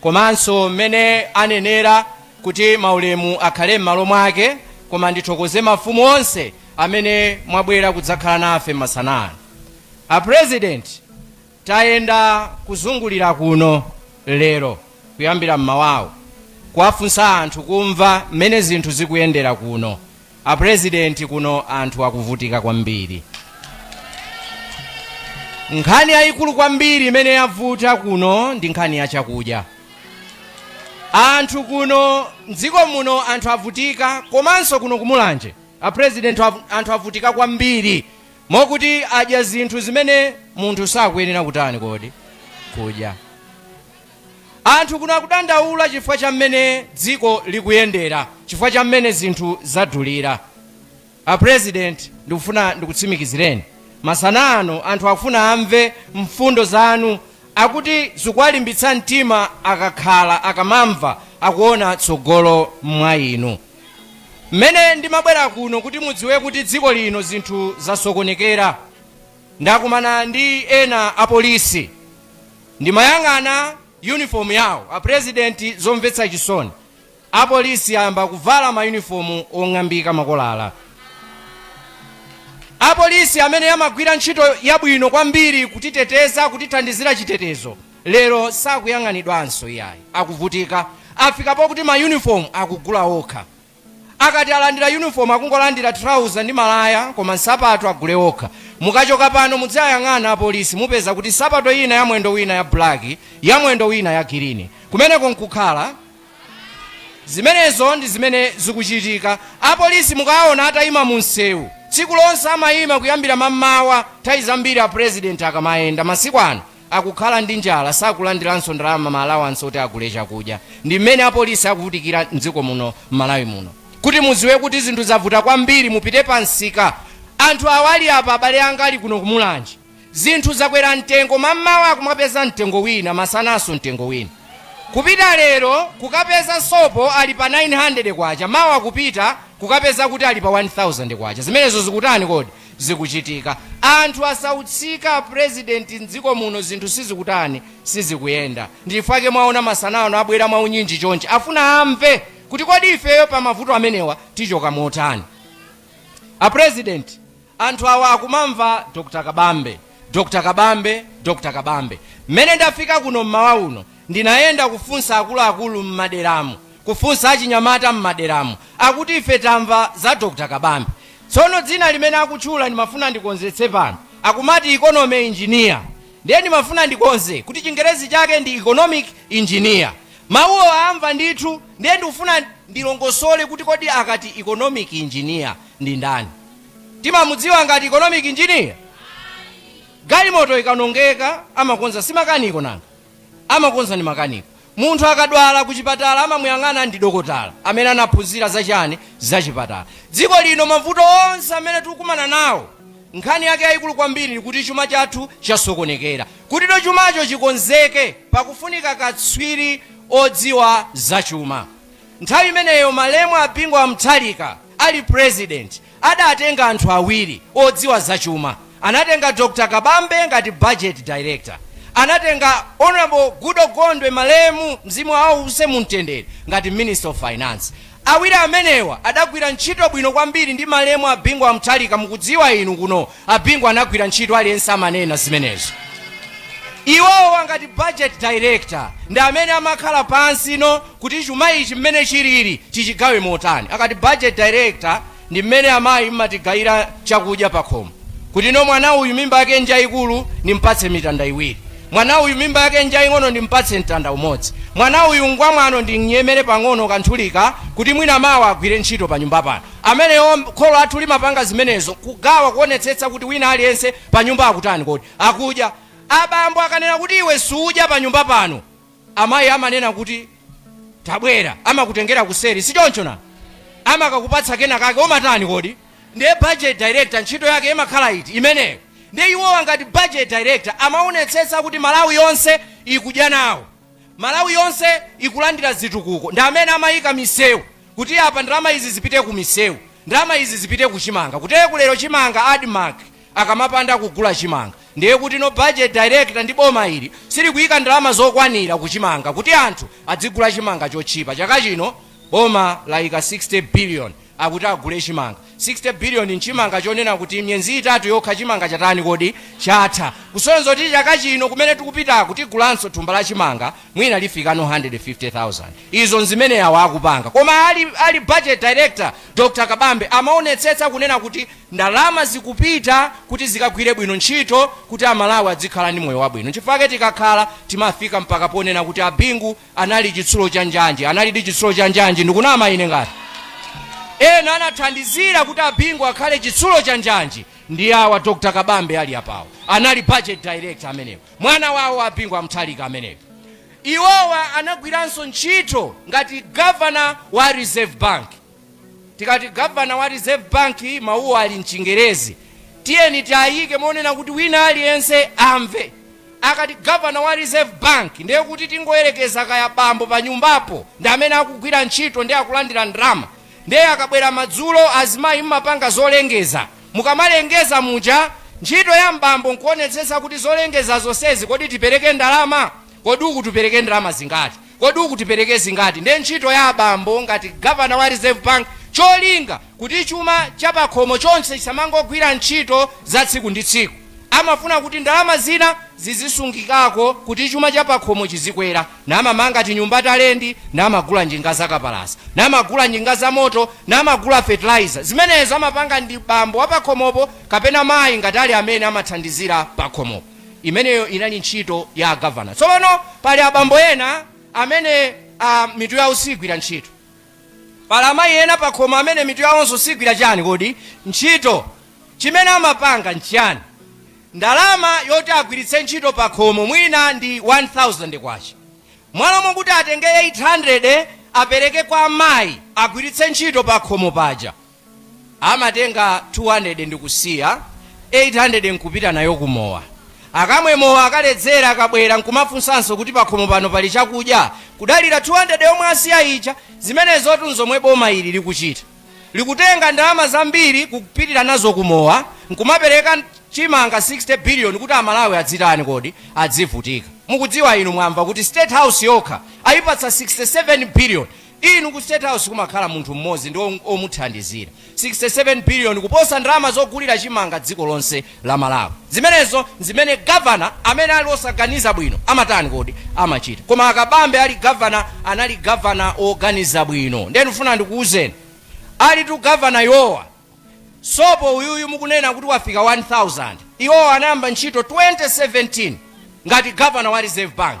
komanso mmene anenera kuti maulemu akhale mmalo mwake koma ndithokoze mafumu onse amene mwabwera kudzakhala nafe masana ano. A president tayenda kuzungulira kuno lero kuyambira mmawawo kuwafunsa anthu kumva mmene zinthu zikuyendera kuno A president kuno anthu akuvutika kwambiri. Nkhani yayikulu kwambiri imene yavuta kuno ndi nkhani ya chakudya. Anthu kuno mdziko muno anthu avutika komanso kuno ku Mulanje a president anthu avutika kwambiri mokuti adya zinthu zimene munthu sakuyenera kutani kodi kudya. Anthu kuno akudandaula chifukwa cha mmene dziko likuyendera, chifukwa cha mmene zinthu zadulira. A President ndikufuna ndikutsimikizireni masana ano anthu akufuna amve mfundo zanu, akuti zikuwalimbitsa mtima akakhala, akamamva, akuona tsogolo mwa inu. Mmene ndimabwera kuno kuti mudziwe kuti dziko lino zinthu zasokonekera, ndakumana ndi ena apolisi. Ndimayang'ana uniform yawo a president zomvetsa chisoni apolisi ayamba kuvala ma uniform ong'ambika makolala. Apolisi amene amagwira ntchito yabwino kwambiri kutiteteza kutithandizira chitetezo lero sakuyang'anidwanso iyayi akuvutika afika pokuti ma uniform akugula okha. Akati alandira uniform akungolandira trouser ndi malaya koma nsapato agule okha. Mukachoka pano mudziwayang'ana apolisi mupeza kuti nsapato ina ya mwendo wina ya black ya mwendo wina ya gilini. Kumeneko nkukhala? Zimenezo ndi zimene zikuchitika. Apolisi mukawaona ataima mu msewu tsiku lonse amaima kuyambira mammawa nthawi zambiri a president akamayenda masiku ano akukhala ndi njala sakulandiranso ndalama ma allowance oti agule chakudya ndi mmene apolisi akuvutikira mdziko muno mMalawi muno kuti muziwe kuti zinthu zavuta kwambiri mupite pa msika anthu awali apa abale anga ali kuno ku Mulanje zinthu zakwera mtengo mammawa akumapeza mtengo wina masananso mtengo wina kupita lero kukapeza sopo ali pa 900 kwacha mawa kupita kukapeza kuti ali pa 1000 kwacha zimenezo zikutani kodi zikuchitika anthu asautsika apresident mdziko muno zinthu sizikutani sizikuyenda ndichifukwa chake mwaona masana ano abwera mwaunyinji chonchi afuna amve kuti kodi ifeyo pa mavuto amenewa tichoka motani apresident anthu awa akumamva dr Kabambe Dr. Kabambe, Dr. Kabambe, mmene ndafika kuno mmawa uno, ndinayenda kufunsa akuluakulu mmaderamu, kufunsa achinyamata mmaderamu, akuti ife tamva za Dr. Kabambe. Tsono dzina limene akutchula ndimafuna ndikonzetse pano, akumati economy engineer, ndiye ndimafuna ndikonze kuti chingerezi chake ndi economic engineer. Mawuwo aamva ndithu, ndiye ndikufuna ndilongosole kuti kodi akati economic engineer ndi ndani. timamudziwa ngati economic engineer? Galimoto ikawonongeka amakonza si makaniko nanga? Amakonza ndi makaniko. Munthu akadwala kuchipatala amamuyang'ana ndi dokotala amene anaphunzira za chani? Za chipatala. Dziko lino mavuto onse amene tikukumana nawo nkhani yake yayikulu kwambiri kuti chuma chathu chasokonekera. Kuti no chumacho chikonzeke pakufunika katswiri odziwa za chuma. Nthawi imeneyo malemu a Bingu a Mutharika. Ali president adatenga anthu awiri odziwa za chuma, anatenga Dr Kabambe ngati budget director, anatenga Honorable Goodall Gondwe malemu mzimu wawo uwuse mumtendere ngati minister of finance. Awiri amenewa adagwira ntchito bwino kwambiri ndi malemu a Bingu a Mutharika mukudziwa inu kuno A Bingu anagwira ntchito aliyense amanena zimenezo. Iwowo ngati budget director ndi amene amakhala pansi no kuti chuma ichi mmene chilili tichigawe motani. Akati budget director ndi mmene amayi mmatigawira chakudya pakhomo kuti no mwana uyu mimba yake njaikulu ndimpatse mitanda iwiri, mwana uyu mimba yake njaing'ono ndimpatse mtanda umodzi, mwana uyu ngwamwano ndimnyemere pang'ono kanthulika kuti mwina mawa agwire ntchito panyumba pano. ameneyo kholo lathu limapanga zimenezo kugawa kuonetsetsa kuti wina aliyense panyumba akutani kodi akudya abambo akanena kuti iwe suudya panyumba pano amayi amanena kuti tabwera amakutengera kuseri sichoncho na amakakupatsa kena kake umatani kodi ndiye budget director ntchito yake imakhala iti imeneyo ndiye iwowa ngati budget director amaonetsetsa kuti malawi yonse ikudya nawo Malawi yonse ikulandira zitukuko ndi amene amayika miseu kuti apa ndalama izi zipite ku miseu, ndalama izi zipite ku chimanga kuti kulero chimanga admarc akamapanda kugula chimanga ndiye kuti no budget director ndi boma ili silikuyika ndalama zokwanira ku chimanga kuti anthu adzigula chimanga chotchipa chaka chino Boma layika 60 billion akuti agule chimanga. 60 billion nchimanga chonena kuti miyezi itatu yokha chimanga chatani kodi? Chatha. Kusonyeza kuti chaka chino kumene tikupitaku tigulanso thumba la chimanga mwina lifika no 150,000. Izo nzimene awo akupanga. Koma ali budget director Dr Kabambe amaonetsetsa kunena kuti ndalama zikupita kuti zikagwire bwino ntchito kuti a Malawi adzikhala ndi moyo wabwino. Nchifukwa chake tikakhala timafika mpaka ponena kuti a Bingu anali chitsulo cha njanji analidi chitsulo cha njanji ndikunama ine ngati ena anathandizira kuti abingu akhale chitsulo cha njanji ndi awa dr kabambe ali apawo anali budget director amenewo mwana wawo abingu a Mutharika amenewo iwowa anagwiranso ntchito ngati governor wa reserve bank Tikati Governor wa Reserve Bank mawuwo ali m'Chingerezi. Tiyeni tiayike monena kuti wina aliyense amve. Akati Governor wa Reserve Bank ndiye kuti tingoyerekeza kaya bambo panyumbapo ndi amene akugwira ntchito ndiye akulandira ndalama. Ndiye akabwera madzulo azimayi mmapanga zolengeza. Mukamalengeza muja ntchito ya m'bambo nkuonetsetsa kuti zolengeza zonsezi kodi tipereke ndalama? Kodi uku tipereke ndalama zingati? Kodi uku tipereke zingati? Ndiye ntchito ya abambo ngati Governor wa Reserve Bank cholinga kuti chuma cha pakhomo chonse chisamangogwira ntchito za tsiku ndi tsiku. Amafuna kuti ndalama zina zizisungikako kuti chuma cha pakhomo chizikwera. Namamanga tinyumba ta lendi, namagula njinga za kapalasa, namagula njinga za moto, namagula fertilizer. Zimenezo amapanga ndi bambo wa pakhomopo kapena mayi ngati ali amene amathandizira pakhomopo. Imeneyo inali ntchito ya a Governor. Tsopano pali abambo ena amene a, mitu yawo siigwira ntchito. Pali amayi ena pakhomo amene mitu yawonso siigwira chiyani kodi? ntchito. Chimene amapanga n'chiyani? Ndalama yoti agwiritse ntchito pakhomo mwina ndi K1000. M'malo mokuti atenge K800 apereke kwa amayi agwiritse ntchito pakhomo paja, amatenga 200 ndikusiya 800 nkupita nayo ku mowa akamwe mowa akaledzera akabwera nkumafunsanso kuti pakhomo pano pali chakudya kudalira 200 yomwe asiya ija zimenezotu nzomwe boma ili likuchita likutenga ndalama zambiri kupitira nazo ku mowa nkumapereka chimanga 60 biliyoni kuti amalawi azitani kodi azivutika mukudziwa inu mwamva kuti state house yokha ayipatsa 67 biliyoni Inu ku state house kumakhala munthu mmodzi ndi omuthandizira. 67 billion kuposa ndalama zogulira chimanga dziko lonse la Malawi. Zimenezo nzimene governor amene ali osaganiza bwino amatani kodi? Amachita. Koma a Kabambe ali governor anali governor woganiza bwino. Ndiye ndikufuna ndikuuzeni alitu governor iwowa sopo uyuyu mukunena kuti wafika 1000 iwowa anayamba ntchito 2017 ngati governor wa Reserve Bank.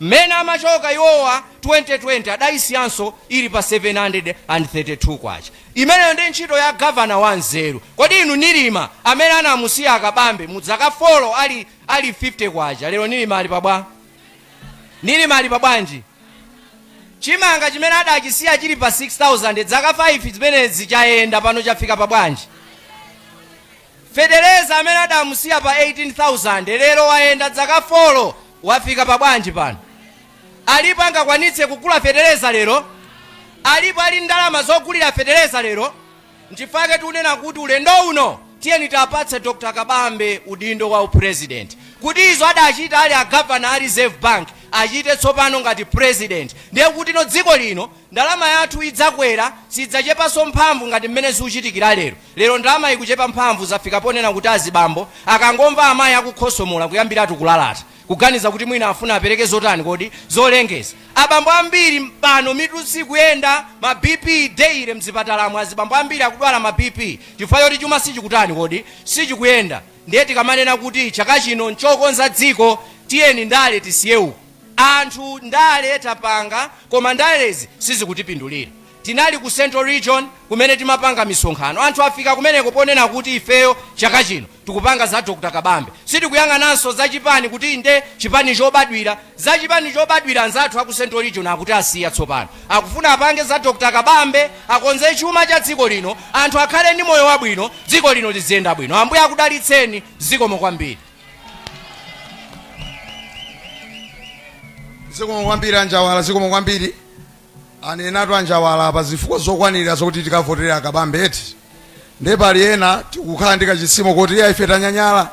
Mmene amachoka iwowa 2020 adayisiyanso ili pa K732. Imeneyo ndiye ntchito ya governor wa nzeru. Kodi inu Nilima amene anamusiya a Kabambe mu dzaka 4 ali K50 lero Nilima ali pa bwa? Nilima ali pa bwanji? Chimanga chimene adachisiya chili pa 6000 dzaka 5 zimenezi chayenda pano chafika pa bwanji? Fetereza amene adamusiya pa 18,000 lero wayenda dzaka folo wafika pa bwanji pano? Alipo angakwanitse kugula fetereza lero? Alipo ali ndalama zogulira fetereza lero? Nchifukwa-ke tikunena kuti ulendo uno tiyeni tiapatse Dr Kabambe udindo wa u president kuti izo adachita ali a governor a reserve bank achite tsopano ngati president ndiye kuti dziko lino ndalama yathu idzakwera sidzachepanso mphamvu ngati mmene zikuchitikira lero. Lero ndalama ikuchepa mphamvu zafika ponena kuti azibambo akangomva amayi akukhosomola kuyambiratu kulalata, kuganiza kuti mwina afuna apereke zotani kodi? Zolongeza. Abambo ambiri pano mitu sikuyenda, ma BP daily mzipatalamu azibambo ambiri akudwala ma BP chifukwa choti chuma sichikutani kodi? Sichikuyenda. Ndiye tikamanena kuti chaka chino nchokonza dziko tiyeni ndale tisiye uko. Anthu ndale tapanga koma ndalezi sizikutipindulira. Tinali ku Central Region kumene timapanga misonkhano. Anthu afika kumeneko ponena kuti ifeyo chaka chino tikupanga za Dr Kabambe. Sitikuyang'ananso za chipani kuti inde chipani chobadwira. Za chipani chobadwira anzathu a ku Central Region akuti asiya tsopano. Akufuna apange za Dr Kabambe, akonze chuma cha dziko lino, anthu akhale ndi moyo wabwino, dziko lino liziyenda bwino. Ambuye akudalitseni. Zikomo kwambiri. Zikomo kwambiri a Njawala, zikomo kwambiri. Anenatu a Njawala apa zifukwa zokwanira zokuti tikavotere a Kabambe eti? Ndiye pali ena tikukhala ndi kachizimu koti iya ife tanyanyala,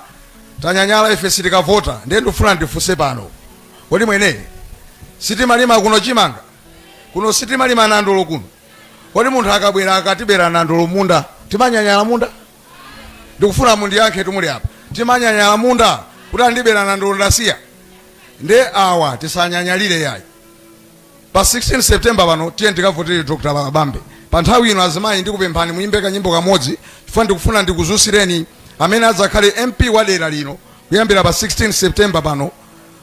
tanyanyala ife sitikavota. Ndiye ndikufuna ndifunse pano, kodi mwene sitimalima kuno chimanga? Kuno sitimalima nandolo kuno? Kodi munthu akabwera akatibera nandolo m'munda, timanyanyala munda? Ndikufuna mundiyankhetu muli apa. Timanyanyala munda kuti andibera nandolo ndasiya? Ndiye awa tisanyanyalire yayi. pa 16 september pano tiyeni tikavotere dr kabambe pa nthawi ino azimayi ndikupemphani muyimbe kanyimbo kamodzi chifukwa ndikufuna ndikudzutsireni amene adzakhale mp wa dera lino kuyambira pa 16 september pano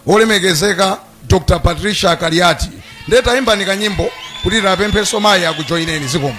olemekezeka dr patricia kaliati ndiye tayimbani kanyimbo kuti tiwapemphenso mayi akujoyineni zikomo